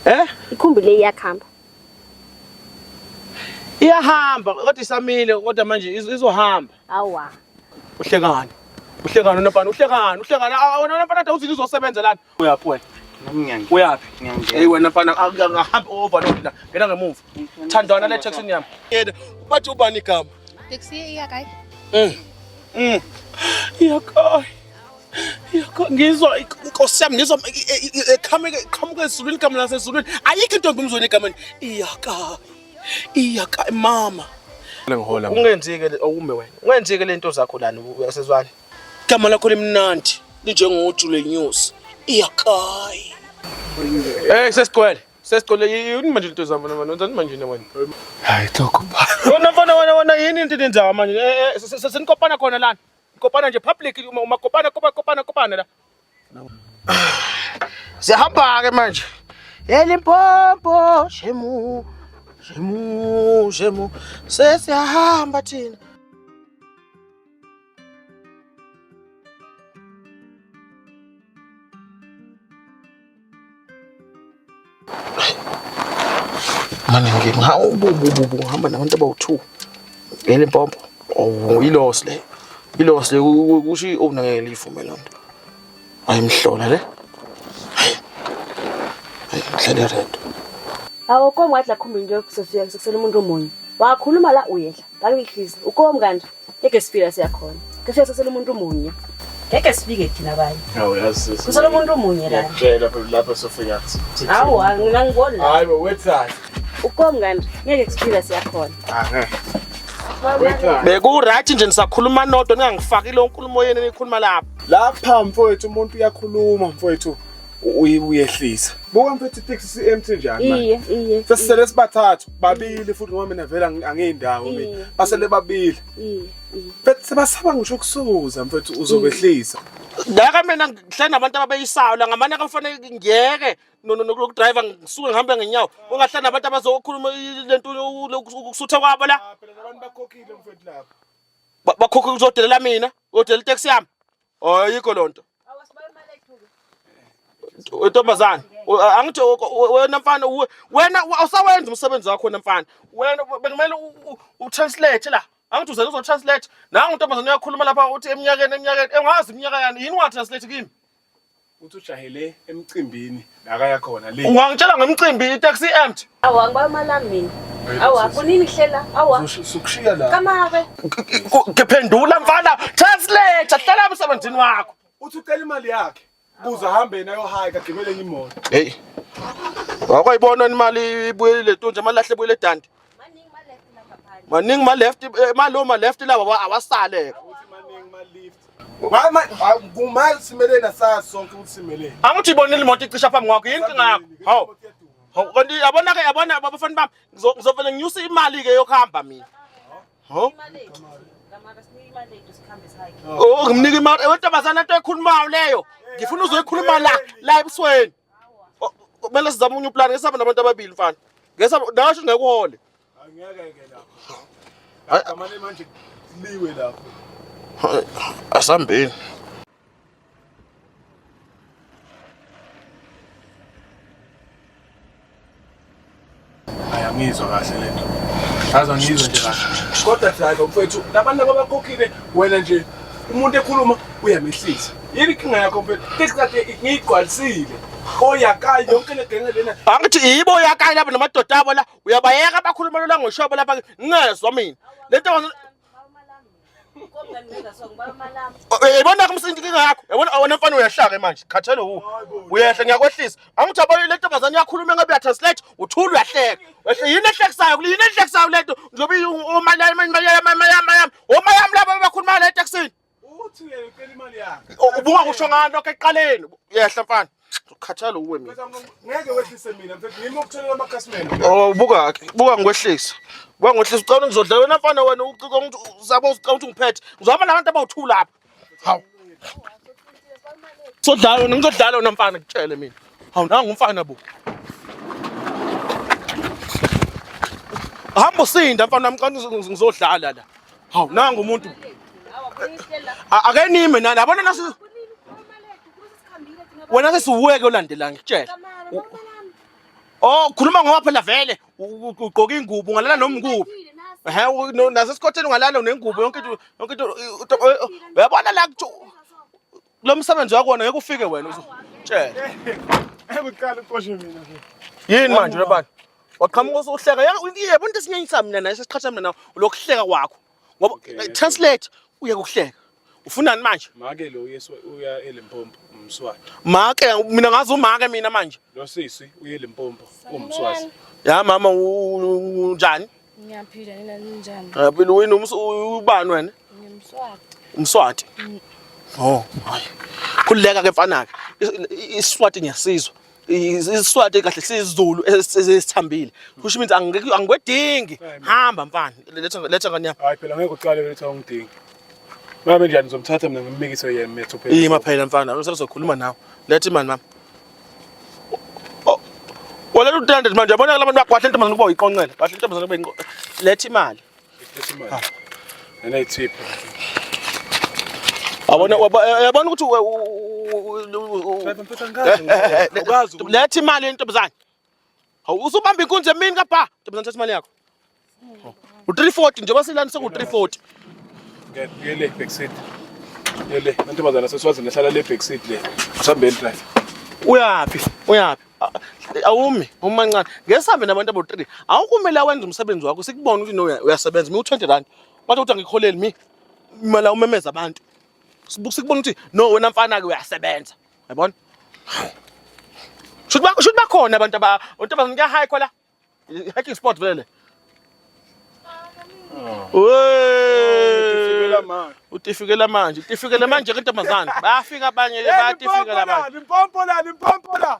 Eh? Ikhumbi le iyakhamba. Iyahamba kodwa isamile kodwa manje iz- izohamba. Awa. Uhlekani? Uhlekani unopana? Uhlekani? Uhlekani? Ah, wena unopana ade uthi lizosebenza lana. Uyaphi wena? Nami ngiyangena. Uyaphi? Ngiyangena. Hey wena mfana akahambi over no la. Ngena ngemuva. Thandwana le taxi yami. Yena bathi ubani igama? Taxi iyakayi. Mm. Mm. Iyakayi. ngizwa inkosi yami ngizwa eqhamuke eqhamuke ezulwini igama lasezulwini ayikho intombi umzweni egameni iyaka iyaka mama lengihola ungenzike okume wena ungenzike lento zakho lana uyasezwana igama lakho limnandi linjengoju lenyosi iyakayi eh sesigcwele sesigcwele yini manje lento zami manje wenzani manje wena hayi tokho ba wena mfana wena wena yini into enzayo manje eh, eh, senikopana khona lana Kopana nje public uma uma kopana kopana kopana kopana la. Sihamba ke manje. Elimpompo shemu shemu shemu sesiyahamba thina. Mane ngihamba nabantu abawu-two ngele mpompo oh, ilosi le ilosi le kusho i-owner ngeke liyivume loo nto ayimhlola le hayi ngihlale redo awu komi wathi lakhumbi nje sesuyeke sekusele umuntu omunye wakhuluma la uyehla Angihlizi ukomi kanti ngeke sifika siyakhona. Ngeke sesele umuntu munye. Ngeke sifike thina abanye. Hawu yazi. Kusele umuntu munye la. Ngiyakutshela phela lapho sofika kuthi. Hawu angangiboni la. Hayi bo wethani. Ukomi kanti ngeke sifika siyakhona. Aha. Bekuright nje nisakhuluma nodwa ningangifaki lo nkulumo yenu enikhuluma lapha. Lapha mfowethu umuntu uyakhuluma mfowethu. uyehlisa buka mfethu itex si-empty njani iye iye sesisele sibathathu babili futhi ngoba mina vele angiyindawo mina basele babili iye mfethu sebasaba ngisho ukusuza mfethu uzobehlisa ngaka mina ngihlale nabantu ababeyisayo la ngamane akafanele ngiyeke nokudrayiva ngisuke ngihambe ngenyawo ungahlale nabantu abazokhuluma le nto ukusutha kwabo la ah, bakhokhile mfethu lapho bakhokhe kuzodelela mina uyodelela iteksi yami Oh yikho lonto. Ntombazana, angithi wena mfana wena awusawenza umsebenzi wakho wena mfana. Wena bekumele u translate la. Angithi uze uzo translate. Nangu ntombazana uyakhuluma lapha uthi eminyakeni eminyakeni engazi iminyaka yani yini wa translate kimi? Uthi ujahele emcimbini la kaya khona le. Ungangitshela ngemcimbi itaxi empty. Awu angiba amala mina. Awu afunini kuhlela. Awu Uzokushiya la. kamabe. Ngiphendula mfana, translate, hlala emsebenzini wakho. Uthi ucela imali yakhe. Kuze ahambe yena ayohaya kagibele enye imoto. Hey. Wakwayibona imali ibuyele letunja, imali lahle ibuyele edanti. maningi ma left eh, malo ma left lawa awasale kumali simeleni asazi sonke ukuthi simeleni angithi ibonile imoto icisha phambi kwakho yinkinga yakho hawu hawu kanti yabona ke yabona abafana bami ngizovele nginyuse imali ke yokuhamba mina hawu Oh ngimnika imali wentombazana into ekhulumayo leyo ngifuna uzoyikhuluma la la ebusweni kumele sizame unye uplan ngesabe nabantu ababili mfana ngesabe nasho ngekuhole angeke ke lapho kamane manje liwe lapho asambeni ayangizwa kahle le nto aze angizwe nje kahle kodwa driver mfethu labantu ababakhokhile wena nje umuntu ekhuluma uyamehlisa yini inkinga yakho mfethu tekisate ngiyigqwalisile oyakayi yonke le genge lena angithi yibo oyakayi laba namadoda abo la uyabayeka abakhuluma lola ngoshobo lapha ngezwa mina le nto yayibona kumsinto inkinga yakho yabona awona mfana uyahlaka manje khathele u uyehla ngiyakwehlisa angithi abanye le ntombazane yakhuluma ngabe uyatranslate uthula uyahleka wehle yini ehlekisayo kule yini ehlekisayo le nto njengoba omayami omayami laba bakhuluma le etekisini Uthi uyeke ucela imali yakhe. Ubuka kusho ngani lokho eqaleni? Yehla mfana. Ukhathala uwe mina. Ngeke wehlise mina mfethu. Ngimi ukutholela amakhasimende. Oh buka ke. Buka ngikwehlisa. Buka ngikwehlisa ucela ngizodla wena mfana wena uciko uzabo ucela ukuthi ungiphethe. Ngizobona abantu abawuthu lapha. Hawu. Sodlala wena ngizodlala wena mfana ngitshele mina. Hawu nangu umfana bo. Hamba usinda mfana wami xa ngizodlala la. Haw nanga umuntu. Akenime nani yabona nasu Wena ke siweke olandela ngitshela. Oh khuluma ngoba phela vele ugqoka ingubo ungalala noma ngikuphi. Ehe nasesikhotheni ungalala nengubo yonke into yonke into uyabona la Lo msebenzi wakona ngeke ufike wena uzotshela. Ekuqala uqoshe mina ke. Yini manje lobani? Waqhamuka usuhleka. Yabo into esinyanyisa mina naye sesiqhatha mina nawe lokuhleka kwakho. Ngoba eh, translate uye kuhleka. Ufunani manje? Make lo uyesu uya eLimpopo umswati. Make mina ngazi umake mina manje. Lo sisi uye eLimpopo umswati. Ya mama unjani? Ngiyaphila nina ninjani? Ngiyaphila wena ubani wena? Ngimswati. Umswati? Mm. Oh, hayi. Khululeka ke mfana ke. Iswati ngiyasizwa. isiswati kahle sizulu esithambile kusho ukuthi angeke angikwedingi hamba mfana letha letha ngani yami hayi phela ngeke uqale letha ungidingi mama njani ngizomthatha mina ngimbikise yena methu phela yima phela mfana usezokhuluma nawe letha imali mama Wala lu 300 manje yabona labantu bakwahle intombazane kuba uyiqonqela. Kahle intombazane kube inqo. Letha imali. Letha imali. Ah. Nena ithipha. Abona yabona ukuthi Letha imali yentombazane. Hawu usubamba inkunzi emini kapha. Ntombazane thatha imali yakho. U340 njengoba silani seku340. Ngiyele back seat. Ngiyele ntombazane seswazini ehlala le back seat le. Usambe el drive. Uyaphi? Uyaphi? Awumi, umancane. Ngesambe nabantu abo3. Awukumele awenze umsebenzi wakho sikubona ukuthi no uyasebenza. Mi u20 rand. Bathi uthi angikholeli mi. Imali umemeza abantu. Sibuke sikubona ukuthi no wena mfana ke uyasebenza. Yabona? Should ba should bakhona abantu aba abantu abazonke high khola. Hiking spot vele. Utifike manje. Utifikela manje. Utifikela manje ke ntombazane. Bayafika abanye le bayatifika la manje. Impompo la, impompo la.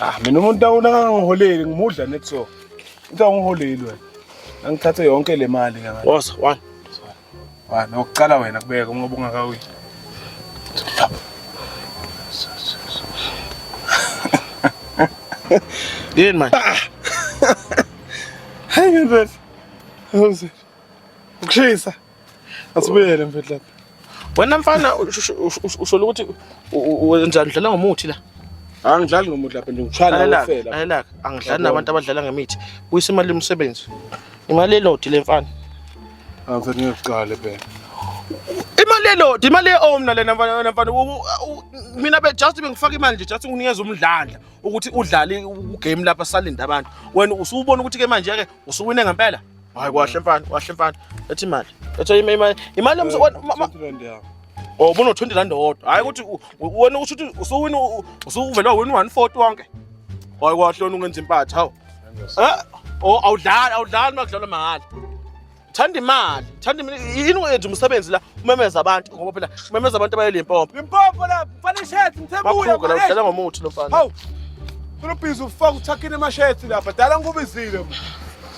Ah mina umuntu awunangiholeli ngimudla net so. Uthi awungiholeli wena. Angithathe yonke le mali ngaka. Woza one. Wa nokucala wena kubeka uma ubungakawi. Yini manje? Ah! Hayi ngempela. How's it? Ukushisa. Asibuyele mfethu lapha. Wena mfana usho ukuthi wenza udlala ngomuthi la. Angidlali ngomuthi lapha nje ngishaya ngofela. Ayelaka, angidlali nabantu abadlala ngemithi. Buyisa imali yomsebenzi. Imali elodi le mfana. Angifuni ngiyoqala phela. Imali elodi, imali eomna lena mfana mfana. Mina be just bengifaka imali nje just nginikeza umdlandla ukuthi udlale ugame lapha salinda abantu. Wena usubona ukuthi ke manje ke usuwine ngempela. Hayi kwahle mfana, kwahle mfana. Ethi imali. Ethi imali. Imali yomse wena. Eh, oh, ubuno 20 rand odwa. Hayi ukuthi wena usho ukuthi usuwina usuvelwa wena 140 wonke. Hayi kwahle wena ungenza impatha, hawu. Eh? Oh, awudlali, awudlali makudlalwa mahhala. Thanda imali, thanda imali. Yini wenza umsebenzi la umemeza abantu ngoba phela umemeza abantu abayele impompo. Impompo la, mfana ishethi mthebuya. Bakhuka la udlala ngomuthi lo mfana. Hawu. Kulobhizi ufaka uthakini emashethi lapha. Dala ngubizile.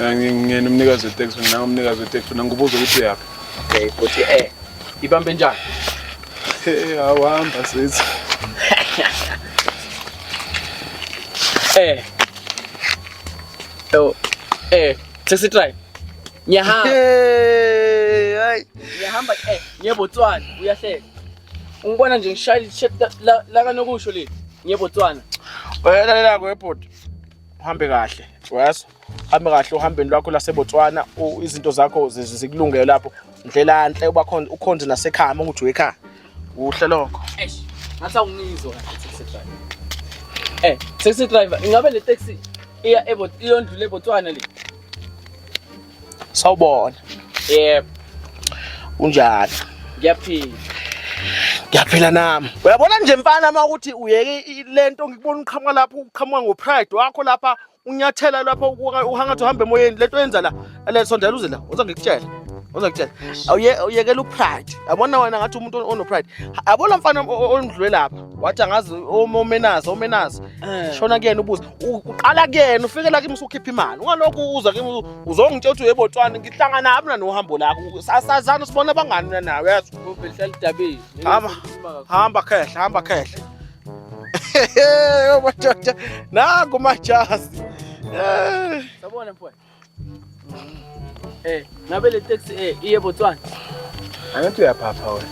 Eh, ngingena umnikazi weteksi mina umnikazi weteksi mina ngibuza ukuthi uyaphi okay futhi eh ibambe njani hey awuhamba sithi eh oh eh taxi drive ngiyahamba hey hayi ngiyahamba eh ngiyebotswana uyahleka ungibona nje ngishayile la kanokusho le ngiyebotswana wena la kwebhodi uhambe kahle wayazi uhambe kahle uhambeni lwakho laseBotswana izinto zakho zikulungele lapho ndlela nhle uba khona ukhonze nasekhaya uma ukuthi uyekhaya kuhle lokho eish ngathi awungizwa taxi driver eh taxi driver ingabe le taxi iya eBotswana iyondlula eBotswana le sawubona yebo unjani ngiyaphila ngiyaphila nami uyabona nje mfana uma ukuthi uyeke le nto ngikubona uqhamuka lapho uqhamuka ngopride wakho lapha unyathela lapho uhangathi uhambe emoyeni le nto yenza la le sondela uze la uza ngikutshela uza ngikutshela awuyekela upride yabona wena ngathi umuntu onopride abona mfana ondlule lapha wathi angazi omenazi omenazi Eh. shona kuyena ubuze U- uqala kuyena ufike la kimi usukhipha imali ungalokhu uza kimi u- uzongitshela ukuthi yebo twana ngihlangana mina nohambo lakho sasazana sibona abangani mina nawe yazi Ube hlala idabeni. Hamba. hamba khehla hamba khehla yobadoda nangu majazi Eh. Sabona mfowethu. Eh, ngabe le taxi eh iye Botswana. Angathi uyaphapha wena.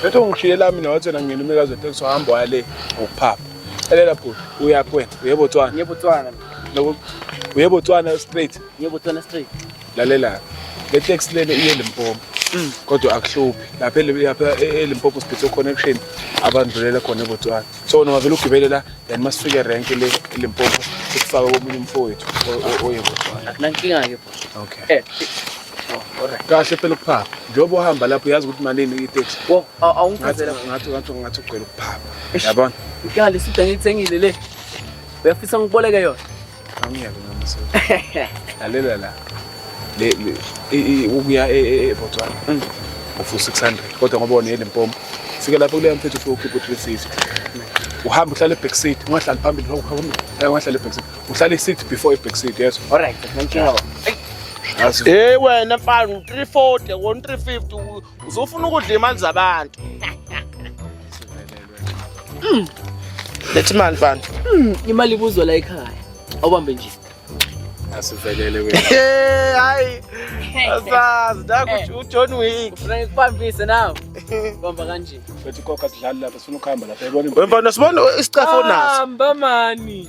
Bethu ungishiye lami nawathi wena ngena umikazi weteksi wahamba waya le ngokuphapha. Elela bhuti, uya kwena, uye Botswana. Ngiye Botswana. Lokho uye Botswana straight. Ngiye Botswana straight. Lalela. Le taxi lele iye Limpopo. Mm. Kodwa akuhluphi. Lapha lapha e-, eLimpopo sibhithe connection abandlulela khona eBotswana. so noma vele ugibele la then masifike rank le Limpopo sikufake komunye umfowethu oyebona akunankinga ke bro okay eh kahle phela ukuphapha njengoba uhamba lapho uyazi ukuthi malini itex awungichazela ngathi ngathi ngathi ugcwele ukuphapha yabona ikali sida ngiyithengile le uyafisa ngiboleke yona Angiyeke ngamsela. Lalela la. Le le ukuya e, e, e Botswana. Mm. Ufusa 600 kodwa ngoba wona yeLimpopo. Fika lapho kuleya mfethu for ukhipha 360. Uhamba uhlale back seat, ungahlali phambili lokho hamba. Eh ungahlali back seat. Uhlale seat before i back seat, yes. All right, thank you. Hey wena mfana 340 won 350 uzofuna ukudla imali zabantu. Mm. Lethi imali mfana. Mm, imali ibuzwa la ekhaya. Awubambe nje. Asivelele wena. Hey, hayi. Asazi nakuthi uJohn Wick. Ufuna ikubambise nawe. Bamba kanje. Bethi kokha sidlali lapha sifuna ukuhamba lapha. Yabona. Wemfana sibona isicafo naso. Hamba mani.